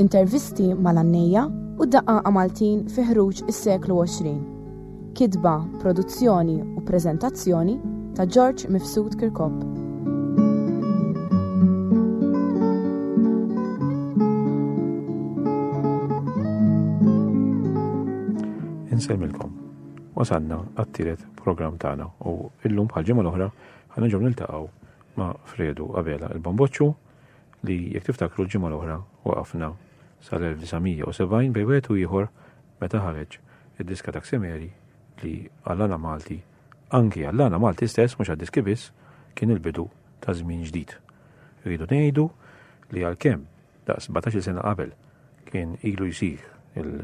Intervisti mal-għannejja u d-daqqaqa Maltin fi ħruġ is-seklu 20. Kitba, produzzjoni u preżentazzjoni ta' George Mifsud Kirkop. Insemmilkom. Wasanna għattiret program tagħna u illum bħal ġimgħa l-oħra ħana ġew niltaqgħu ma' Fredu Abela il-Bamboċċu li jekk tiftakru l-ġimgħa l-oħra waqafna sal-1970 bejn wieħed u ieħor meta ħareġ id-diska ta' Xemeri li għall-għana Malti, anki għall-għana Malti stess mhux għad-diski biss, kien il-bidu ta' żmien ġdid. Rridu ngħidu li għalkemm daqs 17 sena qabel kien ilu jsir il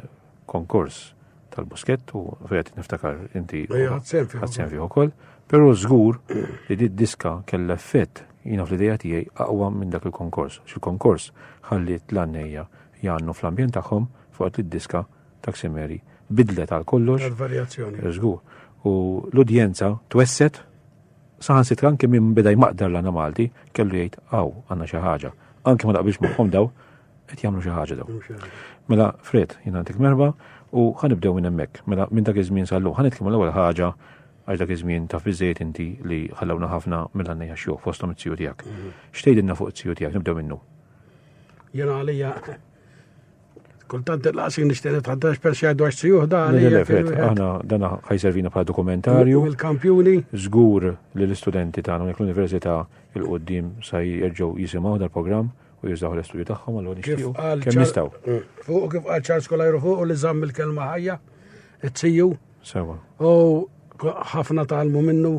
konkors tal-buskett u fejt niftakar inti ħadsen fih ukoll, però żgur li di diska kellha effett jina fl-ideja tiegħi aqwa minn dak il-konkors. Xil-konkors ħalliet l-għannejja jgħannu fl-ambjent tagħhom fuq li diska ta' Ximeri bidlet għal kollox. Varjazzjoni. Żgur. U l-udjenza twesset saħan sitra anke minn beda jmaqdar l-għana Malti kellu jgħid għaw għanna xi ħaġa. Anke ma naqbilx magħhom daw Qed jagħmlu xi ħaġa daw. Mela Fred, jien għandek merba u ħanibdew minn hemmhekk. Mela minn dak iż-żmien sallu ħanitkellmu l-ewwel ħaġa għax dak iż-żmien taf biżejjed inti li ħallewna ħafna mill-għannejja xjuħ fosthom it-tiju tiegħek. Mhm. Xtejdilna fuq it-tiju tiegħek nibdew minnu. Jena għalija kultant il-laqsi nishteri tħaddax per xajdu għax sijuħ da għalija. Aħna dana ħajservina bħala dokumentarju. Il-kampjuni. Zgur li l-istudenti tagħna unek l-Università il-qoddim sa jerġgħu jisimgħu dal-programm u jużaw l-istudju tagħhom għal nixtiequ kemm jistgħu. Mm. Fuq kif qal Charles Kolajru fuq u li żamm il-kelma ħajja, it-siju. Sewa. U ħafna talmu minnu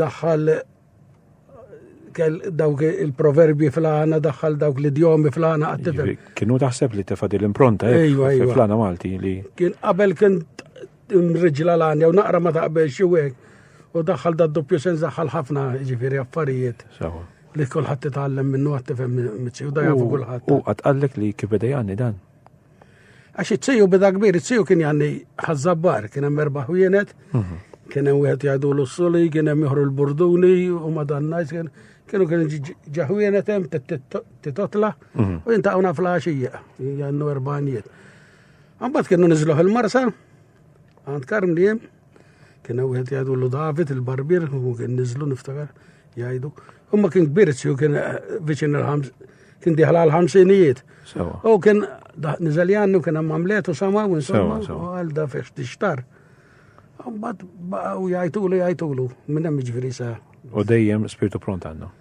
daħħal dawk il-proverbi fl-għana, daħħal dawk l-idjomi fl-għana għattifel. Kienu taħseb li tefad l-impronta eh, fl-għana Malti li. Kien qabel kien mriġla l-għanja u naqra ma taqbel xie u daħħal da doppju sens daħħal ħafna ġifiri affarijiet. Sawa. Li kulħadd titgħallem minnu għad tifhem miċċiju da jafu kulħadd. U qatt qallek li kif beda jgħanni dan. Għax iċċiju beda kbir, iċċiju kien jgħanni ħazzabbar, kien hemm erba' ħwienet, mhm. kien hemm wieħed jgħidu l-suli, kien hemm joħru l-burduni u madannajs kien kienu kien ġaħwienet hemm titotla mhm. u jintaqgħuna fl-għaxija, jgħannu erbanijiet. Għambat kienu niżluħ il-marsa, għand karm li hemm Kien hemm wieħed jgħidu l David il-barbier u kien niżlu niftakar jgħidu. Imma kien kbir u kien eh, viċin il-ħams kien diħla l-ħamsinijiet. U kien niżel jannu kien hemm għamlet u sama u insomma u għal da fiex tixtar. Mbagħad u jgħidulu jgħidulu minn hemm jiġifieri sa. U dejjem spirtu pront għandhom.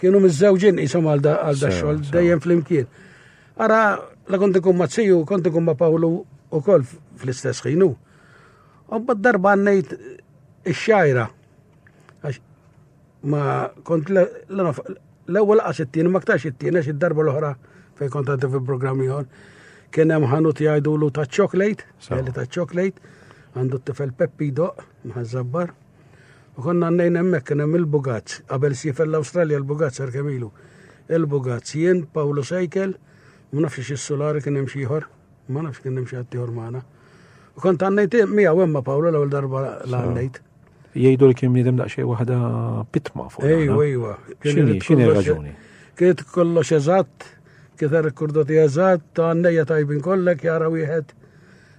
Kienu mizzewġin jisom għal da xol, dejjem fl-imkien. Ara, la kont ikun ma' tziju, kont ikun ma' Pawlu u kol fl-istess ħinu. Obba darba għannejt ix-xajra. Ma kont l-ewwel qas it-tieni, ma ktarx it-tieni, għax id-darba l-oħra fej kont għaddi fi programm ieħor. Kien hemm ħanut jgħidulu ta' chocolate, ta' chocolate, għandu t-tifel Peppi doq, mħazzabbar. Konna għannejn hemmhekk kien hemm il-Bugazz, qabel sifer l-Awstralja l-Bugazz għar kemm ilu. Il-Bugazz jien Pawlu Sejkel, ma nafx xi sulari kien hemm xi ieħor, ma nafx kien hemm xi ħadd ieħor magħna. U kont għannejt miegħu hemm ma' Pawlu l-ewwel darba l-għannejt. Jgħidu li kien bniedem daqsxejn waħda pitma fuq. Ejwa, ejwa. X'inhi x'inhi raġuni? Kienet kollox eżatt, kienet rekordati eżatt, ta' għannejja tajbin kollek jara wieħed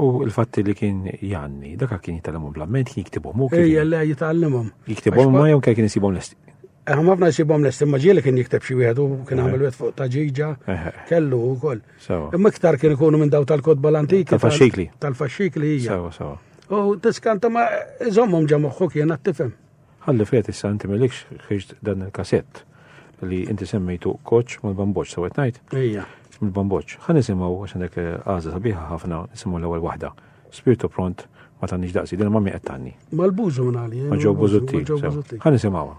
U l-fatti li kien janni, daka kien jitgħallimhom bl-amment, kien jiktibhom u kien. Ejja le jitgħallimhom. Jiktibhom ma jew kien isibhom lesti. Eħ, ma fna jisibhom lesti, ma ġieli kien jikteb xi wieħed u kien għamel wieħed fuq ta' ġiġa, kellu wkoll. Imma iktar kien ikunu minn daw tal-kotba l-antiki. Tal-faxxikli. Tal-faxxikli hija. U tiskanta ma iżommhom ġa moħħu kien għat-tifhem. Ħalli f'għedt issa inti m'ilekx ħiġt dan il-kasett li inti semmejtu koċ mal-bamboċ, sawet ngħid? Ejja. Mill-bamboċ. Ħa nisimgħu għax għandek eh, għażla sabiħa ħafna nisimgħu l-ewwel waħda. Spirtu pront ma tgħandix daqsi, din ma mi qed tgħanni. Mal-bużu nagħli. Ma ġew bużutti. Ħa nisimgħuha.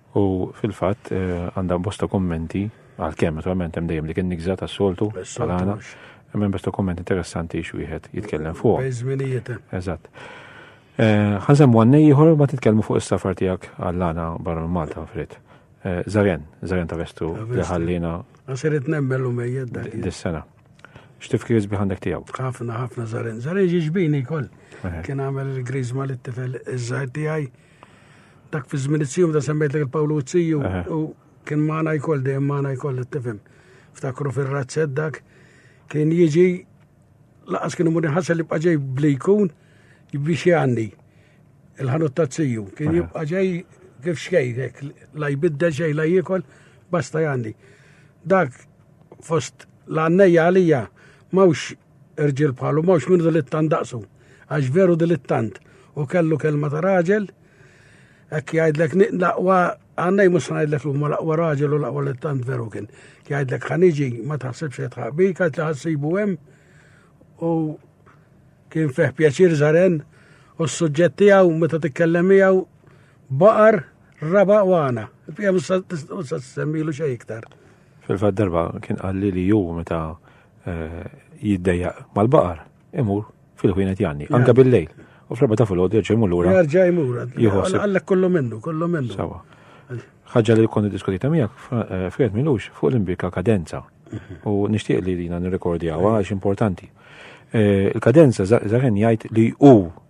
U fil-fatt għandha bosta kummenti għalkemm naturalment hemm dejjem dik in-nigża tas-soltu tal-għana. Hemm bosta kummenti interessanti x'wieħed jitkellem fuq. Bejżminijiet. Eżatt. Ħażem għannej ieħor ma titkellmu fuq is-safar tiegħek għall-għana barra minn Malta frit. Zarjan, Zarjan ta' Vestu li ħallina. Għasirit nemmel u mejjed dak. Dis-sena. X'tifkir isbi għandek tiegħu? Ħafna, ħafna Zarjan. Zarjan ġiġbini kol. Kien għamel il-grizma li t-tifel iż-żgħir tiegħi. Dak fi żmien it-siju da semmejt lek il-Pawlu t-siju u kien maħna jkoll dejjem maħna jkoll t-tifem. Ftakru fil-razzed dak kien jiġi laqas kien imur ħassa li bqaġej bli jkun biex jgħanni il-ħanut ta' t-siju. Kien jibqa ġej kif xejnek, la jbidda xej la jikol, basta jgħanni. Dak fost l-għannejja għalija mawx Irġiel bħalu mhux minn dilittant daqsu, għax veru dilittant u kellu kelma ta' raġel, hekk jgħidlek laqwa għannej mhux ngħidlek li huma laqwa raġel u laqwa littant veru kien. Jgħidlek ħaniġi ma taħsibx qed ħaqbik għax li ħassibu hemm u kien fih pjaċir żaren u s-suġġett tiegħu meta titkellem miegħu baqar raba' u għana. Fija mhux se semmilu xejn iktar. Fil-fatt darba kien qalli li ju meta eh, jiddejja mal-baqar imur fil-ħwienet janni, anka bil-lejl. U fl-erba ta' fil-ħodu jerġa' jmur lura. Jerġa' jmur. Jħossib. Għallek kollu minnu, kollu minnu. Sawa. Ħaġa li konni diskutita miegħek eh, fred milux fuq l-imbika kadenza. Mhm. U nixtieq li dina nirrekordjawa għax importanti. Eh, il-kadenza zaħen jgħid li u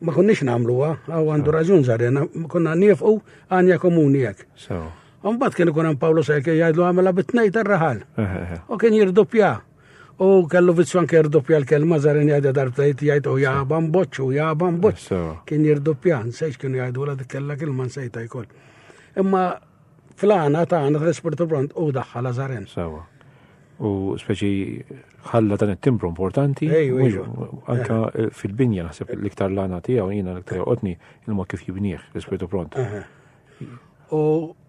Ma konniex nagħmluha, għaw għandu raġun żarjena, konna nifqu għanja komuni hekk. Mbagħad kien ikun hemm Pawlu Sejke jgħidlu għamela bit-tnejn tar-raħal. U kien jirdoppja. U kellu vizzju anke jirdoppja l-kelma żarjen jgħidha darbtajt jgħid u jaba mboċċ u jaba mboċċ. Kien jirdoppja, nsejx kienu jgħidu la dik kellha kelma nsejta jkoll. Imma Fl-għana ta' għana tal-ispirtu pront u daħħal Lazarin. Sawa. U speċi ħalla dan it-timbru importanti. Anka eh. Eh, fil-binja naħseb l-iktar l-għana tiegħu jiena l-iktar joqgħodni il-ma kif jibnieh l-ispirtu pront. U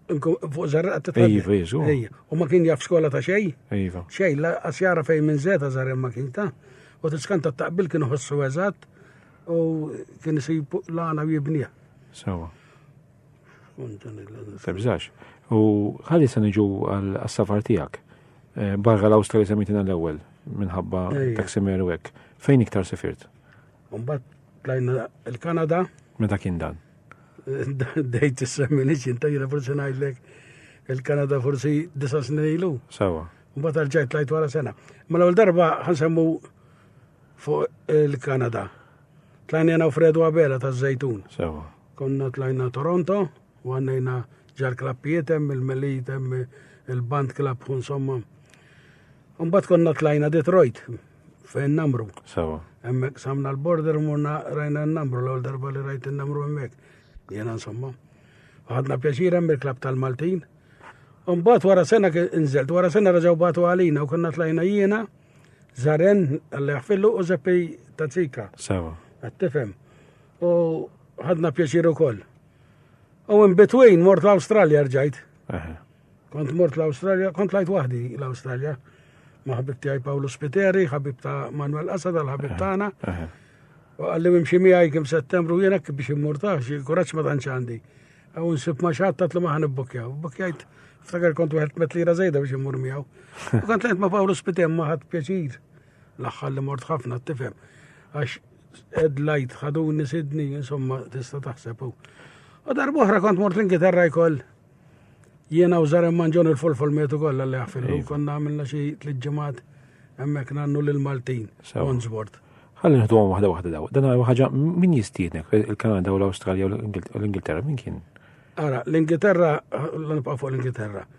fuq zarraqat ta' Ejva, jeżu. U ma kien jaf skola ta' xej? Ejva. Xej, la asjara fejn minn zeta zarren ma kien ta' u t-skanta taqbil kienu ħossu eżatt u kien isib lana u jibnija. Sawa. Febżax. U ħalli se niġu għal-safar tijak. Eh, barra l-Awstrali semitina l-ewel, minħabba taksimeru għek. Fejn iktar sefirt? Umbat, tlajna il-Kanada. Meta kien dan? Dejt s-semmi liċin, tajna forse najdlek il-Kanada forsi disa snin ilu. Sawa. Umbat għal-ġajt lajt wara sena. Ma mela l-ewel darba ħansemmu fuq il-Kanada. Tlajna jena u Fredu Abela ta' Zajtun. Sawa. Konna tlajna Toronto u għannejna ġar klappijiet hemm il-Melit hemm il-Band Club insomma. Mbagħad konna tlajna Detroit fejn namru. Sawa. Hemmhekk samna l-border murna rajna n-namru l-ewwel darba li rajt in-namru hemmhekk. Jiena insomma. Ħadna pjaċir hemm il-klab tal-Maltin. Mbagħad wara sena inżelt, wara sena raġgħu batu għalina u konna tlajna jiena Zaren, għalli għafillu u zeppi tazzika. Sawa. Għattifem. U ħadna pjaċir ukoll. U in between mort l-Awstralja rġajt. Kont mort l-Awstralja, kont lajt waħdi l-Awstralja. Ma ħabib tiegħi Pawlu Spiteri, ħabib ta' Manuel Asad, l-ħabib tagħna. U għalli mimxi miegħi kim settembru jiena biex immurtax, il-kuraġġ ma tantx għandi. Għaw nsib ma xatta li ma ħanibbukjaw. Bukjajt, ftakar kont wieħed met lira żejda biex immur miegħu. U kont lejt ma' Pawlu Spitem ma ħadd pjaċir. L-aħħar li mort ħafna tifhem. Għax Ed lajt ħaduni sidni, insomma, tista taħseb. U darba oħra kont mort l-Ingilterra jkoll jiena u Zarem Manġon il-folfol metu kollha li għafillu. Iva. Konna għamilna xi tliet ġimgħat hemmhekk nannu lil Maltin, Onsbord. Ħalli nħdu għom waħda waħda daw. Dan ħaġa min jistiednek il-Kanada u l-Awstralja u l-Ingilterra min kien? Ara, l-Ingilterra, l-nibqa' fuq l-Ingilterra.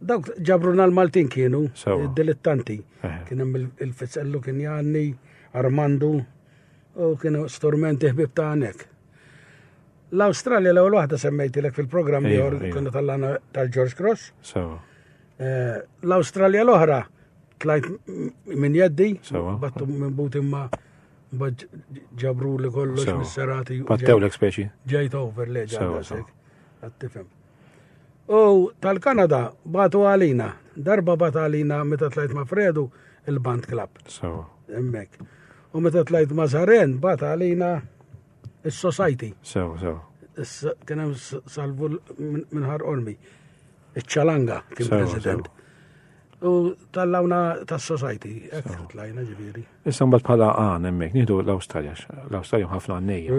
Dawk ġabruna l-Maltin kienu, dilettanti. Eh. Kien hemm il-Fizzellu kien Janni, Armandu, u kienu stormenti ħbib ta' għanek. L-Australja l-ewwel waħda semmejtilek fil-programm li kienu tal-lana tal-George Cross. Eh, L-Australja l-oħra tlajt minn jeddi, battu minn buti ma' ġabru li kollox mis-serati. Battew l-ekspeċi. Ġejt over leġa. Għattifem. U tal-Kanada batu għalina. Darba bat għalina meta tlajt ma' Fredu il-Band Club. Sawa. Emmek. U meta tlajt ma' Zaren bat għalina il-Society. Sawa, sawa. Kien hemm salvu minħar ormi. Iċ-ċalanga kien president. U tal-lawna tas-Society, tlajna ġifieri. Issa mbagħad bħala għan hemmhekk nieħdu l-Awstralja, l-Awstralja ħafna għannejja.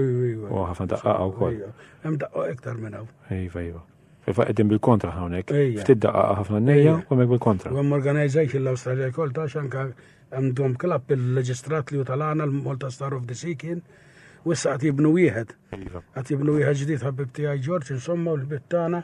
U ħafna daqqa wkoll. Hemm daqqa iktar minn hawn. Iva, iva. Iva qegħdin bil-kontra hawnhekk. Ftit daqqa ħafna għannejja u hemmhekk bil-kontra. Hemm organization l-Awstralja wkoll ta' xanka hemm dom klab il-leġistrat li tal-għana l-Malta Star of the Sea kien. U issa qed jibnu wieħed. Iva. Qed jibnu wieħed ġdid ħabib tiegħi Ġorġ insomma u l-bittana.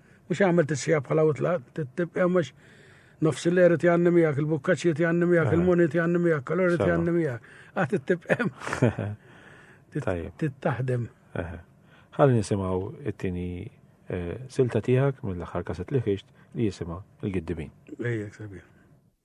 Mhux għamel tissieħab bħala u tlaq, tibqa' mhux nofs il-leri tiegħi miegħek, il-bukkaċċi tiegħi miegħek, il-muni tiegħi miegħek, kalori tiegħi miegħek. Għad tibqem. Tittaħdem. Ħalli nisimgħu it-tieni eh, silta tiegħek mill-aħħar kaset li ħixt li jisimha il-giddibin. Ejjek sabiħ.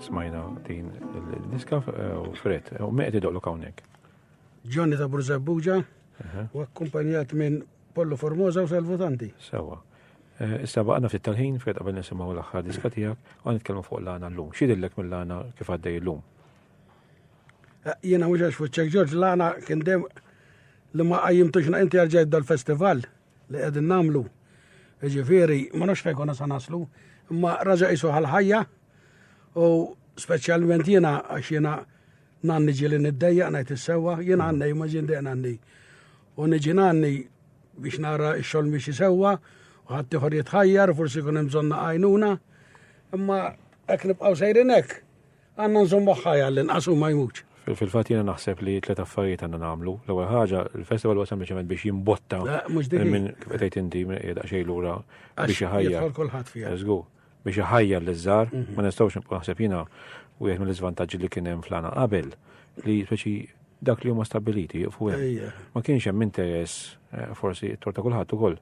Smajna din il-diska eh, u fret, eh, u meqet idoqlu kawnek. Ġonni ta' Burzabbuġa u akkumpanjat minn Pollo Formosa u Salvotanti. Sewa. Eh, issa baqna ftit tal-ħin fred qabel nisimgħu l-aħħar diska tiegħek u nitkellmu fuq l-għana llum. Xidillek mill-għana kif għaddej illum? Jiena mhux għax fuċċek Ġorġ l-għana kien dem li ma qajjimtux inti għalġejt dal-festival li qegħdin nagħmlu. Ġifieri, ma nafx fejn konna sa naslu, imma raġa' isu ħal-ħajja U speċjalment jiena għax jiena nanni ġili niddejjaq ngħid is-sewwa, jiena għannej ma ġin dejjaq nanni. U niġi nanni biex nara x-xogħol mixi sewwa, u ħadd ieħor jitħajjar, forsi kun hemm bżonn għajnuna. Imma hekk nibqgħu sejrin hekk, għandna nżommu ħajja l-inqas u ma jmutx. Fil-fat jena naħseb li tlet affarijiet għanna namlu. L-ewwel ħaġa, il-festival huwa sempliċement biex jimbotta minn kif qed inti minn qiegħda xejn lura biex iħajja. Kulħadd fiha. biex iħajjar li żar, mhm. ma nistgħux nibqgħu naħseb jiena wieħed mill-iżvantaġġi li kien hemm flana qabel li speċi dak li huma stabiliti fuq hemm. Ma kienx hemm interess eh, forsi t-tor ta' kulħadd ukoll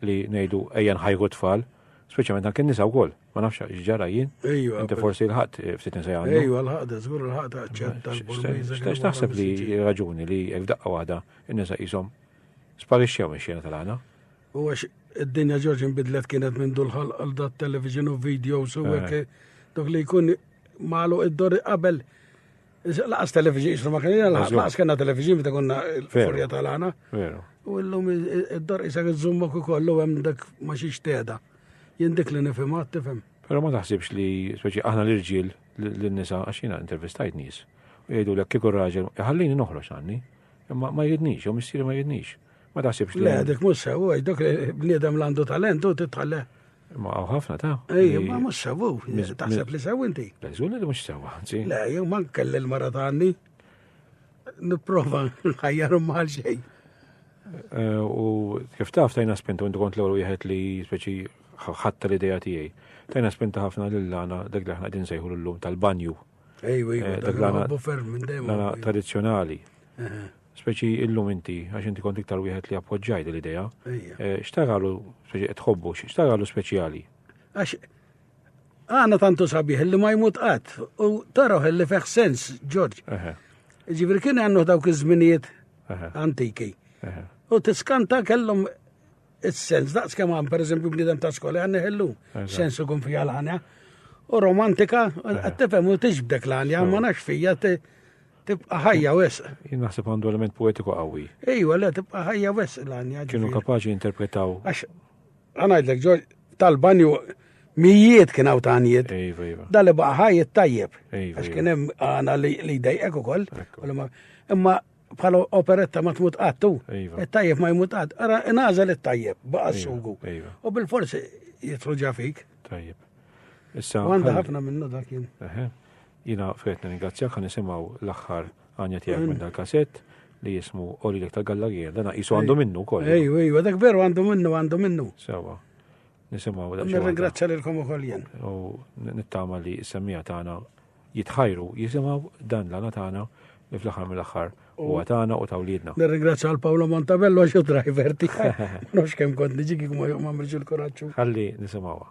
li ngħidu ejja nħajru tfal, speċjalment anke nisa wkoll, ma nafx x'ġara jien. Inti forsi l-ħadd eh, ftit nisa jgħandu. Ejju l-ħadd żgur l-ħadd aċċetta l-Burmiża. X'tax taħseb li raġuni li f'daqqa waħda n-nisa qishom sparixxew minn xena tal-għana? U għax id-dinja ġorġ nbidlet kienet minn dulħal għal dat television u videos u għek eh. dak li jkun malu id-dor qabel Laqas television, jisru ma kien laqas kena television bita konna l-furja tal-għana. U l-lum id-dor jisa għizzumma ku kollu għem dak ma xiex teda. Jindik li nifim għat tifim. Pero ma taħsibx li, speċi, aħna l-irġil l-nisa għaxina intervistajt nis. U jgħidu l-ek kikur raġel, jħallini noħroġ għanni, ma jridnix, u missiri ma jridnix. Ma taħsibx li. Le, dik mhux sewu, dak bniedem l-għandu talent u titħalle. Ma għaw ħafna ta' Ej, ma mhux sewu, taħseb li sewu inti. Leżun li mhux sewa, ġi. Le, jew ma kelli l-mara ta' għanni. Nipprova nħajjar mal xejn. Eh, u kif taf tajna spintu intu kont l-ewwel wieħed li speċi ħatta l-idea tiegħi. Tajna spinta ħafna lil lana dak li aħna qegħdin sejħu l-lum tal-banju. Ej, ej, eh, dak l-għana tradizzjonali. Speċi illum inti, għax inti kont iktar wieħed li appoġġajt l-idea. Eh, x'taralu speċi qed tħobbu, x'taralu speċjali? Għax għana tantu sabiħ li ma jmut qatt u taraħ li feħ sens, Ġorġ. Ġifri kien għannu dawk iż-żminijiet antiki. U tiskanta kellhom is-sens, daqs kemm għan pereżempju bniedem ta' skola għanni ħellu sensu kun fija l-ħanja. U romantika, għattifem u tiġbdek l-ħanja, ma nax fija Tibqa' ħajja wisq. Jien naħseb għandu element poetiku qawwi. Ejwa, le, tibqa' ħajja wisq l-għanja. Kienu kapaċi jinterpretaw. Għax, għanajdlek, ġol, tal-banju mijiet kien għaw tanjiet. Ejwa, ejwa. Dali baqa ħajjet tajjeb. Ejwa. Għax kien hemm għana li dejqek u koll. Imma bħal operetta ma tmut għattu. Il-tajjeb ma jmut għadd. Ara, nażel il-tajjeb, baqa s-sugu. U bil-forsi jitruġa fik. Tajjeb. Issa. Għanda ħafna minnu dak jien. Jiena Fred nirringrazzjak ħa nisimgħu l-aħħar għanja tiegħek minn dal-kasett li jismu Olilek ta' Gallarija. Dan qisu għandu minnu wkoll. Ejju, ejju, dak veru għandu minnu, għandu minnu. Sewa. Nisimgħu dak. Nirringrazzja lilkom ukoll jien. U nittama li s-semmija tagħna jitħajru jisimgħu dan l-għana tagħna li fl-aħħar mill-aħħar u għatana u tawlidna. Nirringrazzja għal Paolo Montabello għax driver tiegħi. Nux kemm kont niġi kif ma jomma il-kuraġġu. Ħalli nisimgħuha.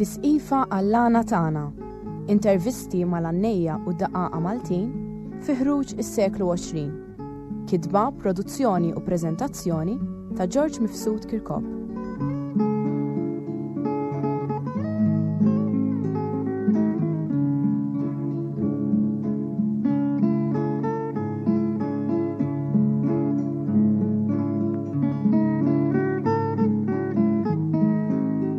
Tisqifa għall-għana tagħna, intervisti mal-għannejja u daqaqa Maltin fi ħruġ is-seklu 20. Kitba, produzzjoni u preżentazzjoni ta' George Mifsud Kirkop.